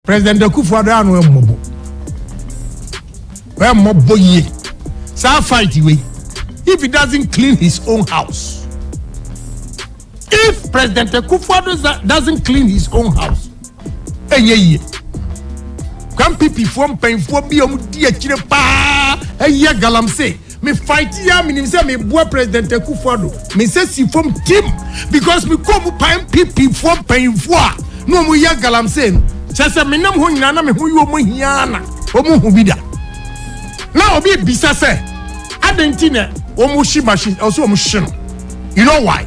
President Akufo Addo ano ɛmmɔbɔ ɛmmɔbɔ yie saa fight wei if he doesn't clean his own house if President Akufo Addo doesn't clean his own house ɛnyɛ yie kwampipifoɔ mpanyinfoɔ bi a wɔn di akyire paa ɛyɛ galamsey. Me fight yi a menim sɛ meboa President Akuffo Addo. Me nsa si fam timm because me kɔɔ mu paa NPP foɔ mpanyinfoɔ a na ɔmo yɛ galamsey no. Kyerɛ sɛ me nam hɔ nyinaa na me ho yɛ ɔmo hia ara na ɔmo hu bi da. Na obi rebisa sɛ adɛn nti na ɔmo hye machine ɛwɔ sɛ ɔmo hye no you know why?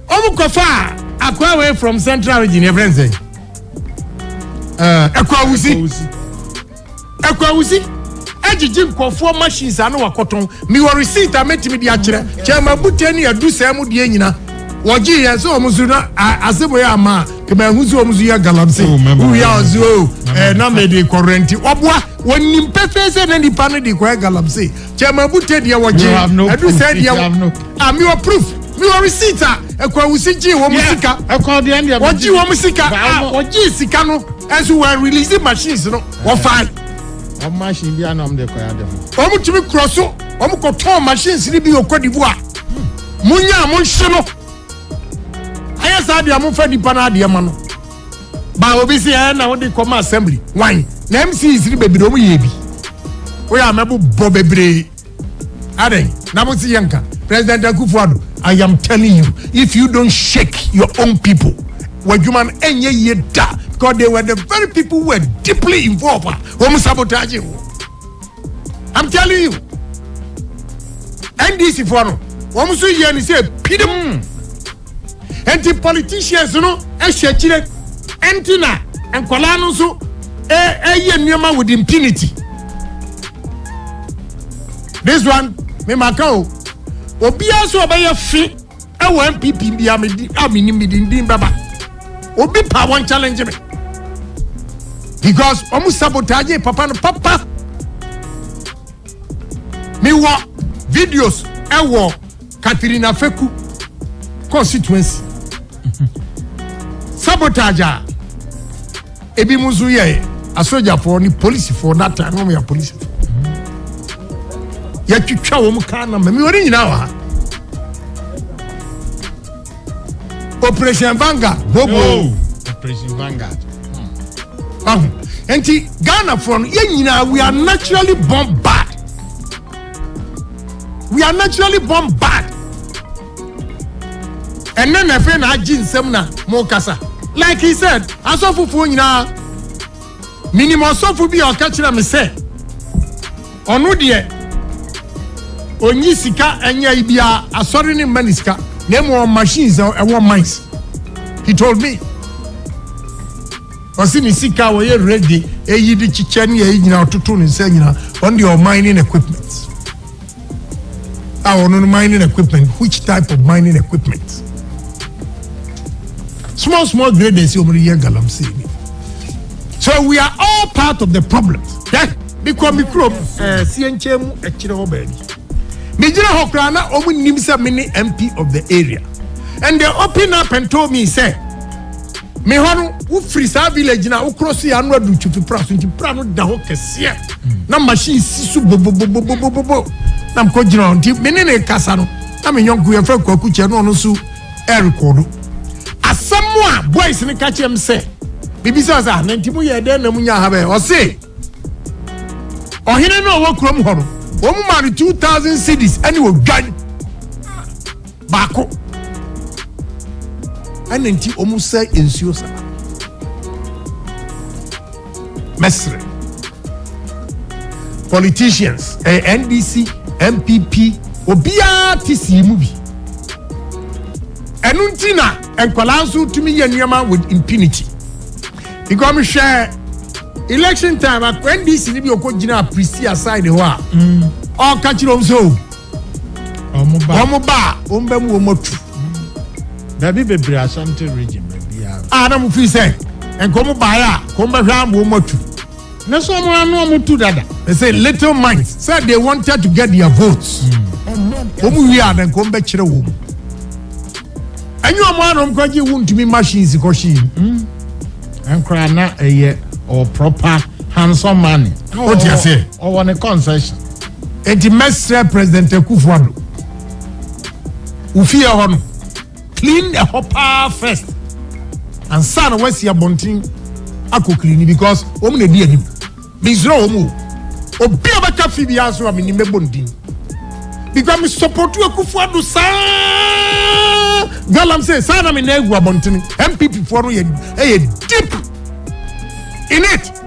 Ɔmo kɔ faa akwaa wei from central region yɛfrɛ no sɛn? Ɛɛ Ɛkwawusi. Akwawudzi agyegye nkorɔfoɔ machines a na wɔakɔtɔn. Mewɔ receipt a mɛtumi de akyerɛ. Kyɛrema Bute ne Adusɛɛ mo deɛ nyina wɔgyee yɛn sɛ wɔn so na Aseboe amma a nka manhu sɛ wɔn so yɛ galamsey. Wowie a wɔse oh ɛɛ na mede rekɔ rɛnte. Wɔboa. Wɔnim pefee sɛ na nipa no de rekɔyɛ galamsey. kyɛ ma bu te deɛ wɔgye ɛdu sɛ deɛ wɔ a mi wɔ proof mi wɔ receipt a ɛkɔawusi gye wɔn mu sika wɔgye wɔn mu sika a wɔgye sika no ɛnso wɔ release machines no wɔfa. wɔn machine bi anam de kɔ ya de ho. wɔn tumi kurɔ so wɔn kɔ tɔn machines ni bi wɔ Cote d'Ivoire mo nya mo nhyɛ no ayɛ saa deɛ mo fɛ nipa no adeɛ ma no. Ba obi si ɛ na wode kɔma assembly wan na MCs no bebree ɔmo yɛ bi woyɛ amɛbo bɔ bebree adɛn na mo si yɛ nka President Akufo Addo I am telling you if you don't shake your own people w'adwuma no ɛnyɛ yie da because they were the very people who were deeply involved a wɔn sabotage wo. i'm telling you ndc foɔ no wɔn nso yɛ ne sɛ pirim hmm. nti politicians no hyɛ akyire nti na nkwadaa no nso ɛyɛ e, e nneɛma with impunity this one me ma ka o obiara nso ɔbɛyɛ fi. Ɛwɔ NPP bi a me di a me nim bi di ndin bɛba. Obi pa wɔn challenge me. Because wɔn sabotage papa no papa. Me wɔ videos ɛwɔ Katrina Feku constituency. Sabotage a. Ebinom nso yɛ asogyafoɔ ne polisifoɔ that time wɔn yɛ apolisifoɔ. Yɛtwitwa wɔn kaa na mɛmi wɔn nyinaa wɔ ha. Operation Vanguard bobo. Oh, Operation Vanguard. Hmm. Ahu. Nti Ghana foɔ no yɛn nyinaa we are naturally born bad. We are naturally born bad. Ɛnnɛ na ɛfei na agye nsam na mo kasa. Like he said, asɔfo foɔ nyinaa, menim ɔsɔfo bi a ɔka kyerɛ me sɛ ɔno deɛ ɔnyi sika ɛnyɛ yi biara, asɔre ne mma ne sika, na emu ɔwɔ machines a ɛwɔ mines. He told me. Ɔsi ne sika a ɔyɛ reggae, eyi de kyekyɛ ne yɛ yi nyinaa ɔtoto ne nsa nyinaa, ɔno deɛ ɔman ne equipment. a ɔno no mining equipment which type of mining equipment small small graders yi wɔn de yɛ galamsey ni so we are all part of the problem hwɛ mekɔ me kurom ɛɛ eh, sie nkyɛn mu ɛkyerɛ hɔ baabi megyina hɔ koraa na wɔn nim sɛ me ne mp of the area and they open up and told me sɛ. Me hɔ no, wo firi saa village no a, wo cross yɛ ano adu Twifi Pra so nti pra no da hɔ kɛseɛ na machine si so bobobobobobobo na mekɔ gyina hɔ nti me ne ne kasa no na me nyɔnko yɛ fɛ kwaku kyɛ no ɔno nso ɛrekɔdo asɛm mu a boys no ka kyɛm sɛ bibi sɛ ɔsɛ na nti mo yɛ dɛn na mo nya ha bɛyɛ ɔse ɔhene no ɔwɔ kurom hɔ no wɔn mu maa no two thousand cities ɛne odwan Baako ɛna nti wɔn sɛ nsuo saa. Mɛsrɛ politicians ɛyɛ eh, NDC NPP obiara ti si mu bi. Ɛno nti na nkwadaa nso tumi yɛ nneɛma with impunity. Because mi hwɛ election time NDC ni bi okɔ gyina Prisia side hɔ a ɔka kyerɛ wɔn sɛ o. wɔn ba a wɔn ba mu wɔn atu baabi bebree asante region baabiara a na mo fi sɛ nka wɔn baeɛ a ka wɔn bɛhwɛ ama wɔn atu ne so wɔn ano wɔn tu dada they say little minds say they wanted to get their votes wɔn wie a na nka wɔn bɛkyerɛ wɔn ɛnyɛ wɔn ano wɔn kɔ gye wɔn ntumi machines kɔ hyɛn mu nkora na ɛyɛ ɔ proper handsome money o ti ase ɔwɔ ne concession. Enti mɛsrɛ President Akufo Addo, wo fie hɔ no, clean ɛhɔ paa first ansa na wasi abɔnten akɔ clean because wɔn na edi anim. Mesrɛ wɔn o, obi a bɛka fi bi aso a menim mɛbɔ ndin because me support Akufo Addo saa galam sɛ saa na me nan egu abɔnten. MPP foɔ no yɛ ɛyɛ deep in it.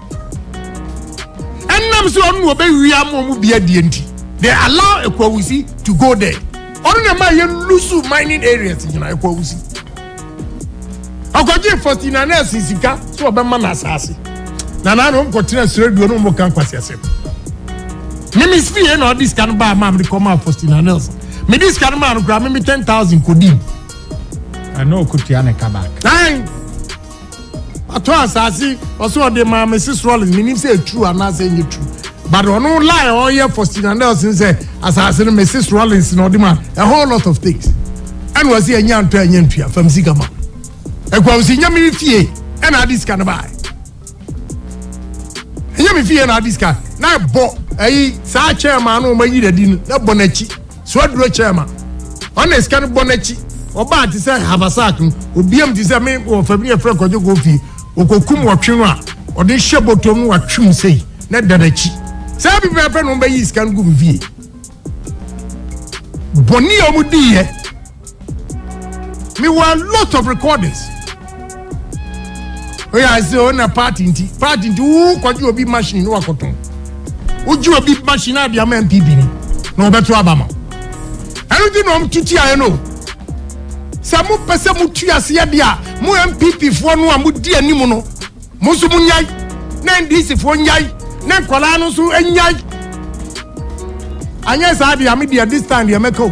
Ɛnam sɛ ɔno na ɔbɛwia ma wɔn bi adeɛ nti, they allow Ekwawusi to go there. Ɔno na ɛma yɛn lusu mining areas nyinaa Ekwawusi. Ɔkɔgye Faustina Nelson sika sɛ ɔbɛma no asaase. Na naa na ɔmkɔtena Sraduo na ɔmka nkwaseasɛm. Mimi fie na ɔde sika no baa maa mede kɔmaa Faustina Nelson. Mede sika no maa no koraa meme ten thousand kɔdii. Ɛna ɔkɔtua ne ka back. Ae. Watɔ asase ɔsɛ ɔde maa Mrs Rollins menim sɛ ɛtru anaasɛ ɛnyɛ tru but ɔno lie a ɔyɛ Faustina Nelson sɛ asase no Mrs Rollins na ɔde ma a whole lot of things ɛna ɔsɛ ɛnyɛ antɔ ɛnyɛ ntua fam sika ma ɛkwa ɔsɛ nyɛ me fie ɛna ade sika no bae ɛnyɛ me fie na ade sika na ɛbɔ ɛyi saa kyɛn maa no ɔma yi dadi no na ɛbɔ n'akyi So aduro kyɛɛ ma ɔn na sika no bɔ n'akyi ɔbaa te sɛ habasak no obiam te sɛ me wɔ fam ne yɛfrɛ kɔdwo kofi ɔkɔkum wɔtwe no a ɔde hyɛ bɔtɔm no watwem sei na da n'akyi saa bi pɛpɛ no bɛyi sika no gu me fie bɔne a wɔdiiɛ Me wɔ a lot of recordings. Oye I say o na party nti party nti wo kɔgye obi machine no akɔtɔn. Wogye obi machine a de ama MPP ni na ɔbɛto aba ma. Ɛno nti na ɔm tuti ayɛ no. Sɛ mo pɛ sɛ mo tu ase yɛ de a mo MPP foɔ no a mo di anim no Mo nso monnyae, na NDCfoɔ nnyae, na nkwadaa no nso nnyae. Anyɛ saa deɛ, me deɛ this time deɛ mɛka o,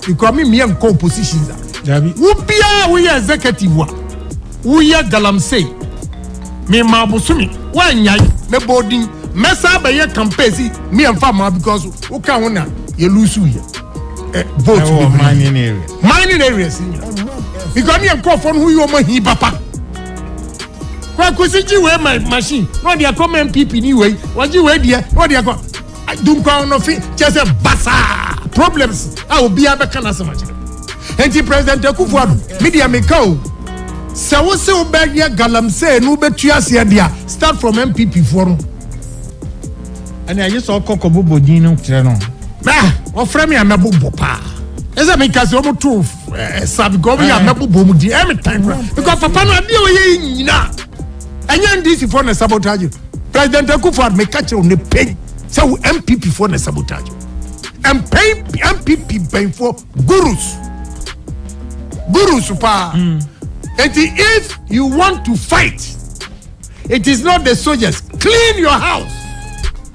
because me mmea nkɔ oppositions a. Dabi. Wo biara woyɛ executive a, woyɛ galamsey. Me ma bosome, woannyae, mɛbɔ wo din, mɛsan abɛyɛ campaign si, me ɛmfa mmaa because woka ho na yɛ lose yɛ eh, vote Ɛwɔ bebree. mining area. Mining areas nyina. Because ne yɛ nkurɔfoɔ no ho yɛ wɔn ahi papa. kwakusi gye wei ma machine na ɔde akɔ ma npp ni wei wɔgye wei deɛ na ɔde akɔ dunkwa ɔnɔfe kyɛ sɛ basaa problems a obiara bɛka n'asɛm akyerɛ nti president akufo ado me deɛ meka o sɛ wo se wobɛyɛ galamsey no wobɛtu aseɛ deɛ start from npp foɔ no ɛne aye sɛ ɔkɔ kɔbobɔ din no kyerɛ no wɔfrɛ me a mɛbobɔ paa ɛsɛ meka sɛ ɔmo too eh, sabiga ɔmo yɛ eh. abɛbobɔ mu di ɛmi tan kura because papa no adeɛ ɔyɛ yi nyina ɛnyɛ ndc fɔ na sabotage president akufo ado meka kyerɛ ne pɛn sɛ wo mpp fɔ na sabotage mpɛn mpp mpɛnfoɔ gurus gurus paa hmm. eti if you want to fight it is not the soldiers clean your house.